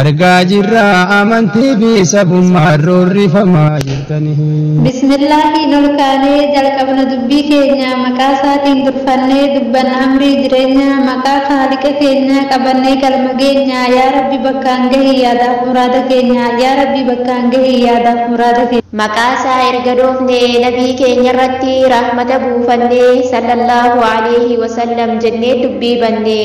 Argaa jirra amantii fi sabummaan roorrifamaa jirtanii. Bismillaahiin ol kaanee jalqabna dubbii keenya maqaa isaatiin durfannee dubbanna amrii jireenyaa maqaa khaaliqa keenyaa qabannee galma geenya yaa rabbi bakkaan gahi yaadaaf muraada keenya yaa rabbi bakkaan gahi yaadaaf muraada keenya. Maqaa isaa erga dhoofne nabii keenya irratti rahmata buufanne sallallaahu aleyhi wasallam jennee dubbii banne.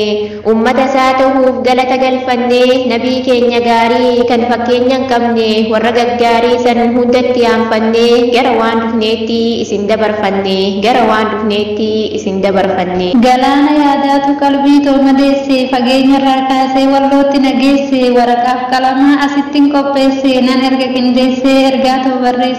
Ummata isaa tahuuf galata galfannee Nabii keenya gaarii kan fakkeenya hin qabne warra gaggaarii san hunda itti aanfannee gara waan dhufneetti isin dabarfanne gara waan dhufneetti isin dabarfanne. Galaana yaadaatu qalbii too madeesse Fageenyarraa kaasee Wallootti na geesse Waraqaaf qalamaa asittin qopheesse Nan erga qindeessee Ergaa too barreesse.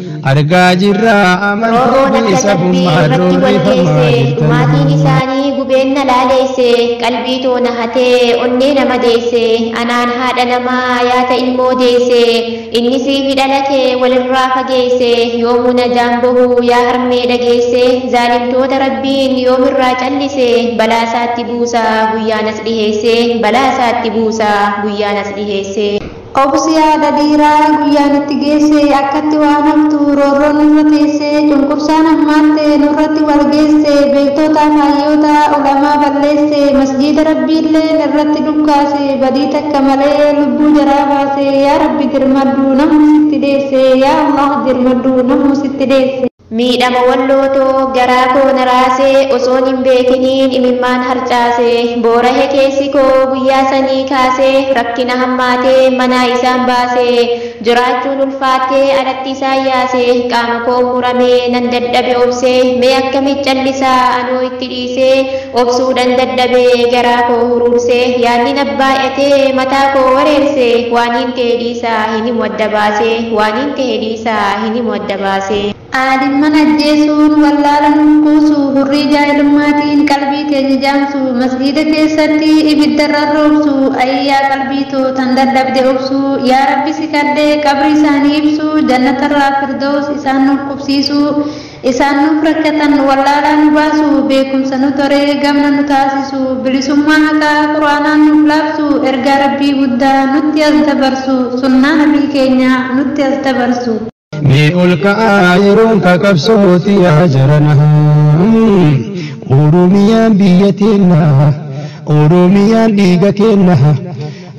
argaa jirra amantii Roorroon fi akka sabbii sabummaa irratti wal roorrifamaa geesse jirtan. maatiin isaanii gubeen na laaleesse qalbii too na hatee onnee na madeesse anaan haadha namaa yaata ilmoo deesse inni siifi dhala kee walirraa fageesse yoomuu najaan bahu yaa harmee dhageesse zaalimtoota rabbiin yoomirraa callise balaa isaatti buusa guyyaanas dhiheesse balaa isaatti buusa guyyaanas dhiheesse. Obsi haadha dhiiraa guyyaan itti geesse akkatti waan haftu roorroo nurra teessee cunqursaan hammaatte nurratti wal geesse beektootaaf hayyoota ulamaa balleesse masjiida rabbiilleen irratti dhukkaase badii takka malee lubbuu jaraa baase yaa rabbi dirmadhu namuu sitti dheesse yaa allah dirmadhu namuu sitti dheesse. Miidhama walloo too garaa koo na raase osoon hin beekiniin imimmaan harcaase boorahe keessi koo guyyaa sanii kaase rakkina hammaate manaa isaan baase jiraachuun ulfaatte alatti isaan yaase qaama koon murame nan dadhabe obse mee akkamiit callisa anoo itti dhiise obsuudhan dadhabe garaa koo huruurse yaadni na baay'ate mataa koo wareerse waaniin ta'e dhiisa hin himu adda baase waaniin ta'e dhiisa hin himu adda baase. Aadimman ajjeesuun, wallaala nuuf kuusu, hurrii jaahilummaatiin qalbii keenya jaamsu, masgiida keessatti ibidda rarroobsu, ayii yaa qalbii too tan dadhabde obsu, yaa Rabbi si kadhe qabrii isaanii ibsu, jannatarraa firdows isaan nuuf qubsiisu, isaan nuuf rakkatan wallaalaa nu baasu, beekumsa nu toree gamna nu taasisu, bilisummaa haqaa qur'aanaan nuuf laabsu, ergaa Rabbii guddaa nutti as dabarsu, sunnaa nabii keenyaa nutti as dabarsu. Mee ol ka'aa yeroon kakabsooti yaa jarana. Oromiyaan biyya teenna, Oromiyaan dhiiga keenna.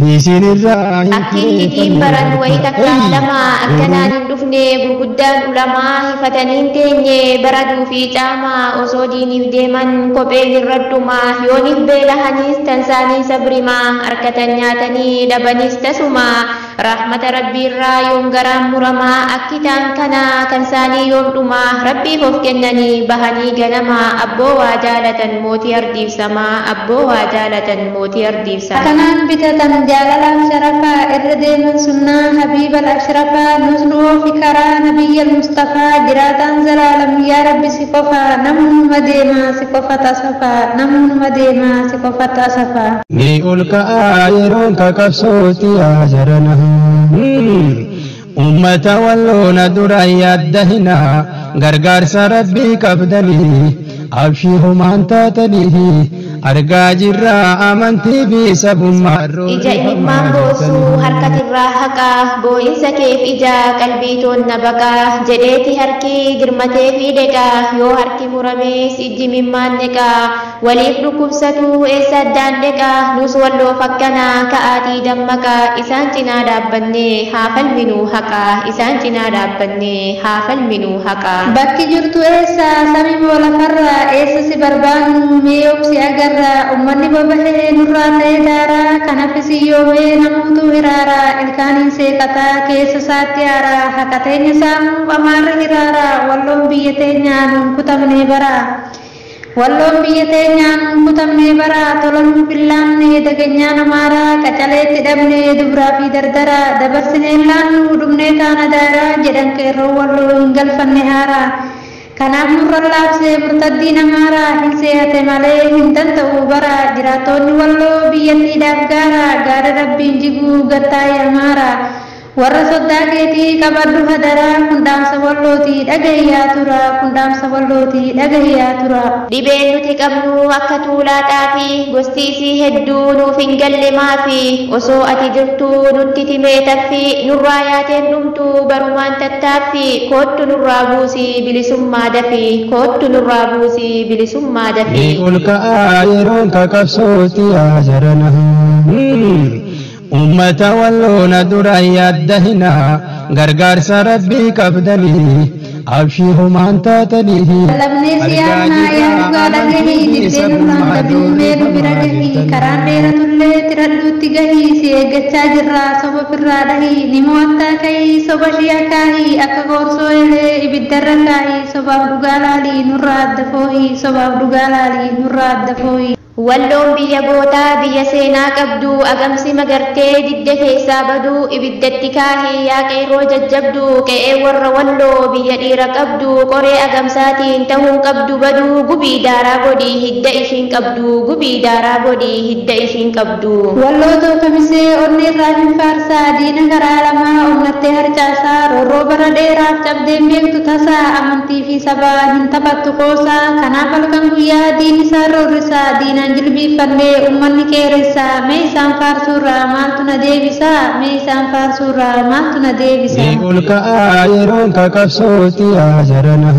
Isin irraa hin Akki hitiin baran wayii takkaaf lama akkanaan hin dhufne gurguddaan ulamaa hifatanii hin teenye baraduu fi caamaa osoo diiniif deeman kophee hirradhuma yooniif beelahaniis tansaanii sabrimaa harkatan nyaatanii dhabaniis tasuma Rahmata Rabbiirraa yoom garaan murama Akki taan kana kan saanii yoom dhuma Rabbiif of kennanii bahanii ganama Abboo waa jaalatan mootii ardiif sama Abboo waa jaalatan mootii ardiif sama. Kanaan bitatan jaalalaaf sharafa Irra deeman sunnaa habiibal ashrafa Nus nu oofi karaa nabiyyal mustafaa Jiraataan zalaalam yaa Rabbi si qofa Namuu numa deema si qofat asafa Namuu numa deema si qofat asafa. Ni ol ka'aa yeroon kakabsootti yaa jarana. Ummata walloona dura yaadda hina gargaarsa rabbii qabdanii abshii homaan taatanii argaa jirra amantii fi sabummaa Ija imimmaan boosuu harkatirraa haqaa boo'insa keef ija qalbii toonna baqaa jedheeti harki girmatee fi deqaa yoo harki muramees ijji mimmaan neqaa Waliif dhukkubsatu eessa addaan dheqa Nus walloof akkana ka'aatii dammaqa Isaan cinaa dhaabbannee haa falminu haqa Isaan cinaa dhaabbannee haa falminu haqa. Bakki jirtu eessa sami moo lafarra Eessa si barbaannu mee yoom si agarra Ummanni bobahe nurraa ta'e daara Kan hafe si yoome namuutu hiraara Ilkaaniin seeqata keessa isaatti aara Haqa teenya saamuuf amaarri hiraara Walloon biyya teenya nuun kutamne bara. Walloon biyya teenyaa nuun kutamnee bara tola nuu billaanne dagenyaa namaara qacalee itti dhabne dubraa fi dardara dabarsineen laannu dhumnee taana daara jedhan qeerroon walloo hin galfanne haara kanaaf nurra laafse murtaddiin amaara hin seehate malee hin danda'uu bara jiraattoonni walloo biyyattiidhaaf gaara gaara rabbiin jiguu gattaa'i amaara Warra soddaa keetii qabadhu hadaraa kun dhaamsa wallooti dhagahi yaa turaa kun dhaamsa wallooti dhagahi yaa turaa. Dhibeen nuti qabnu akka tuulaa xaafii gosti isii hedduu nuuf hin galle maafi osoo ati jirtuu nutti timee taffi nurraa yaateen dhumtu barumaan tattaaffi koottu nurraa buusi bilisummaa dafi koottu nurraa buusi bilisummaa dafi. Ni olka'aa yeroon ka qabsootti yaa jarana. Ummata walloona dura yaadda hinaa gargaarsa rabbii qabdanii abshii humaan taatanii Lallabnee si yaadnaa yaa dhugaa dhagahii diddee nurraan baduu mee nu bira gahii karaan dheeratullee tiradhuutti gahii si eeggachaa jirraa soba firraa dhahii ni mo'attaa ka'ii soba shii akaahii akka qoorsoo elee ibiddarra kaahii sobaaf dhugaa laalii nurraa adda foohii sobaaf dhugaa laalii nurraa adda foohii. Walloon biyya gootaa biyya seenaa qabdu agamsi magartee didde keessaa badu ibidda itti kaahi yaa qeerroo jajjabdu qe'ee warra walloo biyya dhiira qabdu qoree agamsaatiin tahuun qabdu badu gubii daaraa godhi hidda ishiin qabdu gubii daaraa godhi hidda ishiin qabdu. Walloo too kamisee onneerraa hin faarsaa diina karaa lamaa onnattee harcaasaa roorroo bara dheeraaf cabdeen beektu tasa amantii fi Ati sabaa hin taphattu qoosa. Kanaaf halkan guyyaa diin isaan roorrisa. Diinaan jilbiiffannee ummanni qeeressa. Mee isaan faarsuurraa maaltu na deebisa? Mee isaan faarsuurraa maaltu na deebisa? Ni ol ka'aa yeroon ka qabsootti yaa jarana.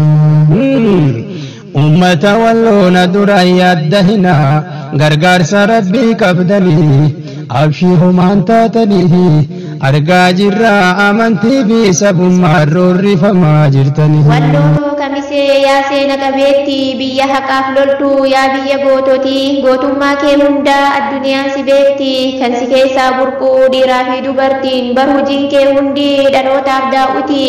Ummata walloona dura yaadda hinaa gargaarsa rabbii qabdanii. Abshiir homaan taataniifi argaa jirra amantii fi sabummaan roorrifamaa jirtanii. Walloo kamisee yaa seena qabeetti biyya haqaaf loltu yaa biyya goototi gootummaa kee hunda adduniyaan si beekti kan si keessaa burqu dhiiraa fi dubartiin bar hujiin kee hundi dhalootaaf daaw'iti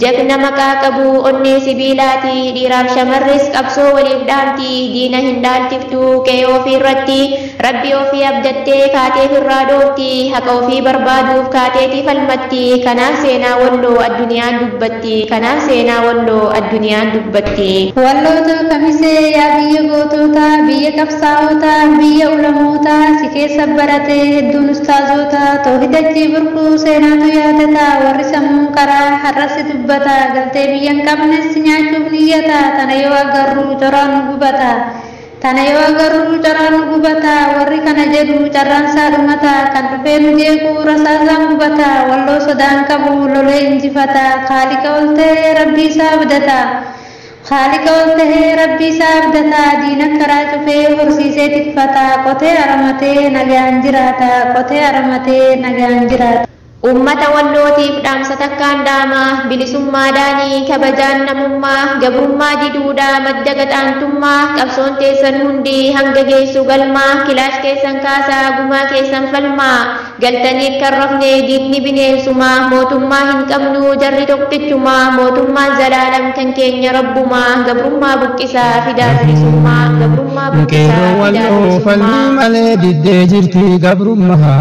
jagna maqaa qabu onnee sibiilaati dhiiraaf shamarris qabsoo waliif dhaamti diina hin dhaalchiftu qe'ee ofii irratti Rabbi ofii abdattee kaatee firraa dhoofti haqa ofii barbaaduuf kaateeti falmatti kanaaf seenaa walloo adduniyaan dubbatti kanaaf seenaa walloo adduniyaan dubbatti. Walloo too kamisee yaa biyya gootootaa biyya qabsaa'ootaa biyya ulamootaa si keessa barate hedduun ustaazoota toohida achii burqu seenaatu yaadata warri sammuun qaraa har'as si dubbata galtee biyya hin qabnes si nyaachuuf niyyata tana yoo agarru coraan nu gubata Tana yoo agarruu caraan nu gubata warri kana jedhu carraan isaa dhumata kan dhufee nu jeequ rasaasaan gubata walloo sodaa hin qabu lolee injifata khaaliqa ol tahee rabbii isaa abdata khaaliqa ol tahee rabbii isaa abdata diina karaa cufee horsiisee tikfata qotee aramatee nagaan jiraata qotee aramatee nagaan jiraata. Uummata Wallootiif dhaamsa takkaan dhaama, Bilisummaa dhaanii, kabajaan namummaa, gabrummaa diduudha madda gaxaantummaa, qabsoon teessan hundi hanga geessu galmaa, kilaash keessan kaasaa gumaa keessan falmaa, galtaniit kan rafne diinni bineensuma, mootummaa hin qabnu jarri tokkichuma, mootummaan zalaalam kan keenya rabbuma, gabrummaa buqqisaa fidaa bilisummaa, gabrummaa buqqisaa fidaa bilisummaa. Qeerroo Walloo falmii malee diddee jirti gabrummaa.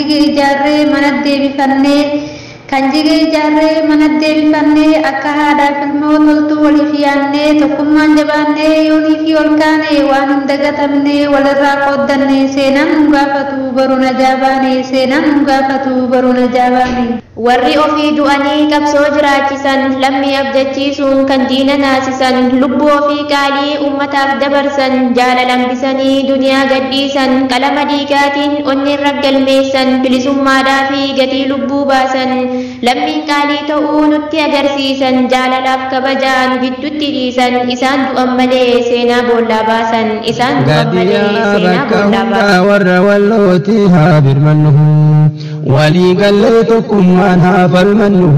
jige ijaarree manat deebifanne Kan jige ijaarree manat deebifanne Akka haadhaaf ilmoo toltuu waliif yaanne Tokkummaan jabaanne yooniifii ol kaane Waan hin dagatamne walirraa qooddanne Seenaan nun gaafatu boru najaa baane Seenaan nun gaafatu boru najaa baane. Warri ofii du'anii qabsoo jiraachisan, lammii abdachiisuun kan diina naasisan, lubbuu ofii qaalii ummataaf dabarsan, jaalala hambisanii duniyaa gadhiisan, qalama dhiigaatiin onneen raggalmeessan, bilisummaadhaafi gatii lubbuu baasan, lammiin qaalii ta'uu nutti agarsiisan, jaalalaaf kabaja nu giddutti dhiisan, isaan du'an malee seenaa boollaa baasan, isaan du'an malee Gaaddiyaa seenaa bakka boollaa baasan. hundaa warra wallootii haa birmannu. Walii gallee tokkummaan haa falmannu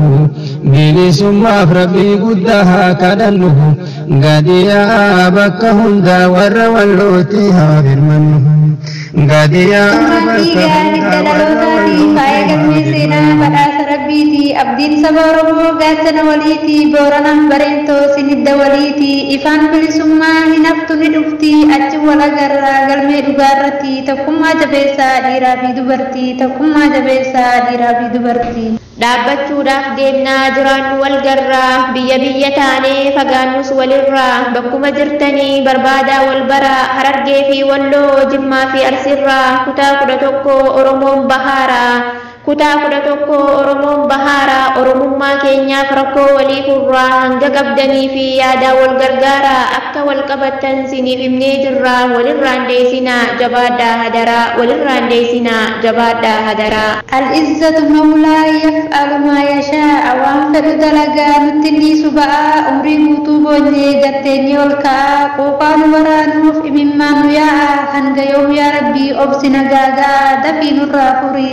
bilisummaaf rabbii guddaa haa kadhannu gadi yaa'aa bakka hundaa warra wallootti haa birmannu gadi yaa'aa Maatii bakka gaarii hundaa warra dhalootaati wallootti faaya haa galmee birmannu. seenaa badhaasa rabbiiti abdiin saba oromoo gaachana waliiti booranaaf bareentoo sinidda waliiti ifaan bilisummaa hin haftu ni dhufti achi wal agarraa galmee dhugaarratti tokkummaa jabeessaa dhiiraa fi dubartii. Dubartii tokkummaa jabeessaa dhiiraa fi dubartii. Dhaabbachuudhaaf deemnaa jiraannu wal garraa Biyya biyya taanee fagaannus walirraa Bakkuma jirtanii barbaadaa wal baraa Harargee fi Walloo Jimmaa fi Arsiirraa Kutaa 11 Oromoon bahaara Kutaa 11 Oromoon bahaara Oromummaa keenyaaf rakkoo walii furraa Hanga qabdanii fi yaadaan wal gargaaraa Akka Akka wal qabattan siiniif himnee jirra walirraa hin deesinaa jabaadhaa hadaraa walirraa hin deesinaa jabaadhaa hadaraa. Al izzatu mawlaa yaf'alu maa yashaa'a waan fedhu dalaga nutti hin dhiisu ba'aa umrii guutuu boonye gad teenyee ol ka'aa quuqaa nu waraanuuf imimmaan nu yaa'aa hanga yoom yaa rabbii obsi na gaaga'aa dafii nurraa furi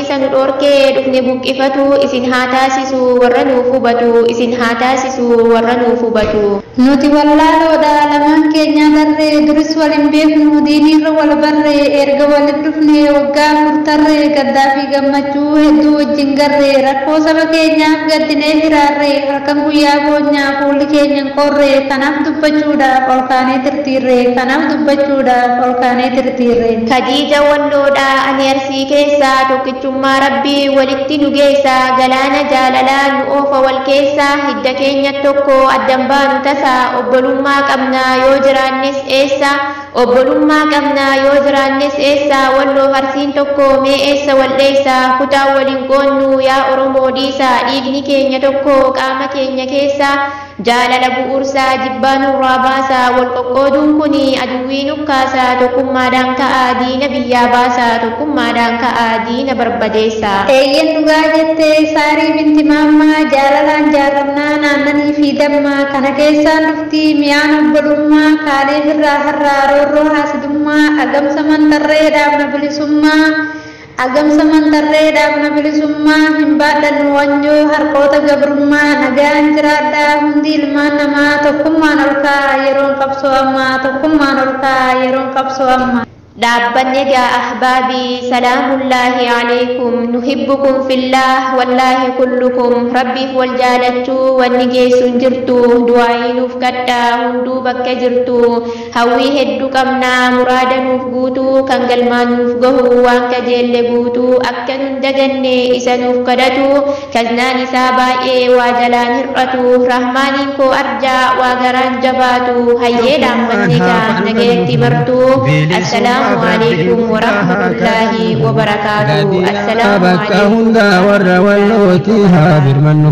keessa nu dhorke dhufne buqqifatu isin haa taasisu warra nuuf hubatu isin haa taasisu warra nuuf hubatu. Nuti wallaaloodha lamaan keenyaa darre duris wal hin beeknu diiniirra wal barre eerga walit dhufne waggaa afur tarre gaddaa fi gammachuu hedduu wajjin garre rakkoo saba keenyaaf gaddinee hiraarre halkan guyyaa boonya fuulli keenya hin qorre kanaaf dubbachuudhaaf ol kaanee tirtiirre kanaaf dubbachuudhaaf ol kaanee tirtiirre. Kadiija Walloodha ani Arsii. Sii keessa tokkichummaa rabbi walitti nu geessa galaana jaalalaa nu oofa wal keessa hidda keenya tokko addan baanu tasa obbolummaa qabna yoo jiraannes eessa obbolummaa qabna yoo jiraannes eessa walloof arsiin tokko mee eessa wal dheessa kutaan wal hin qoodnu yaa oromoo dhiisa dhiigni keenya tokko qaama keenya keessa Jaalala bu'uursaa jibbaa nurraa baasaa Wal qoqqooduun kuni aduwwii nukkaasaa Tokkummaadhaan ka'aa diina biyyaa baasaa Tokkummaadhaan ka'aa diina barbadeessaa. Eeyyen dhugaa jette Saarii binti Maammaa Jaalalaan jaarrannaan aannanii fi damma Kana keessaan dhufti mi'aan obbolummaa Kaaleef irraa har'aa roorroo haasidummaa Agamsaman tarree dhaabna bilisummaa Agamsa Mantarree Dhaabna Bilisummaa Hin Baadhannu Wanjoo Harqoota Gabrummaa Nagaan Jiraadhaa Hundi Ilmaan Namaa Tokkummaan Ol Ka'aa Yeroon Qabsoo Amma Tokkummaan Ol Ka'aa Yeroon Qabsoo Amma. Dhaabbanni egaa ahbaabii salaamullaahi aleykum nuhibbukum fillaah wallaahi kullukum rabbiif wal jaalachuu wanni geessu hin jirtu du'aa'ii nuuf kadhaa hunduu bakka jirtu Hawwii hedduu qabna muraada nuuf guutu kan galmaan nuuf gahu waan kajeelle guutu akka nun daganne isa nuuf kadhatu kaznaan isaa baay'ee waa jalaan hir'atu rahmaaniin koo arjaa waa garaan jabaatu hayyee dhaammanni kaan nagayatti martu assalaamu aleykum warahmatullaahi wabarakaatu assalaamu bakka aleykum hundaa warra wallootii haa birmannu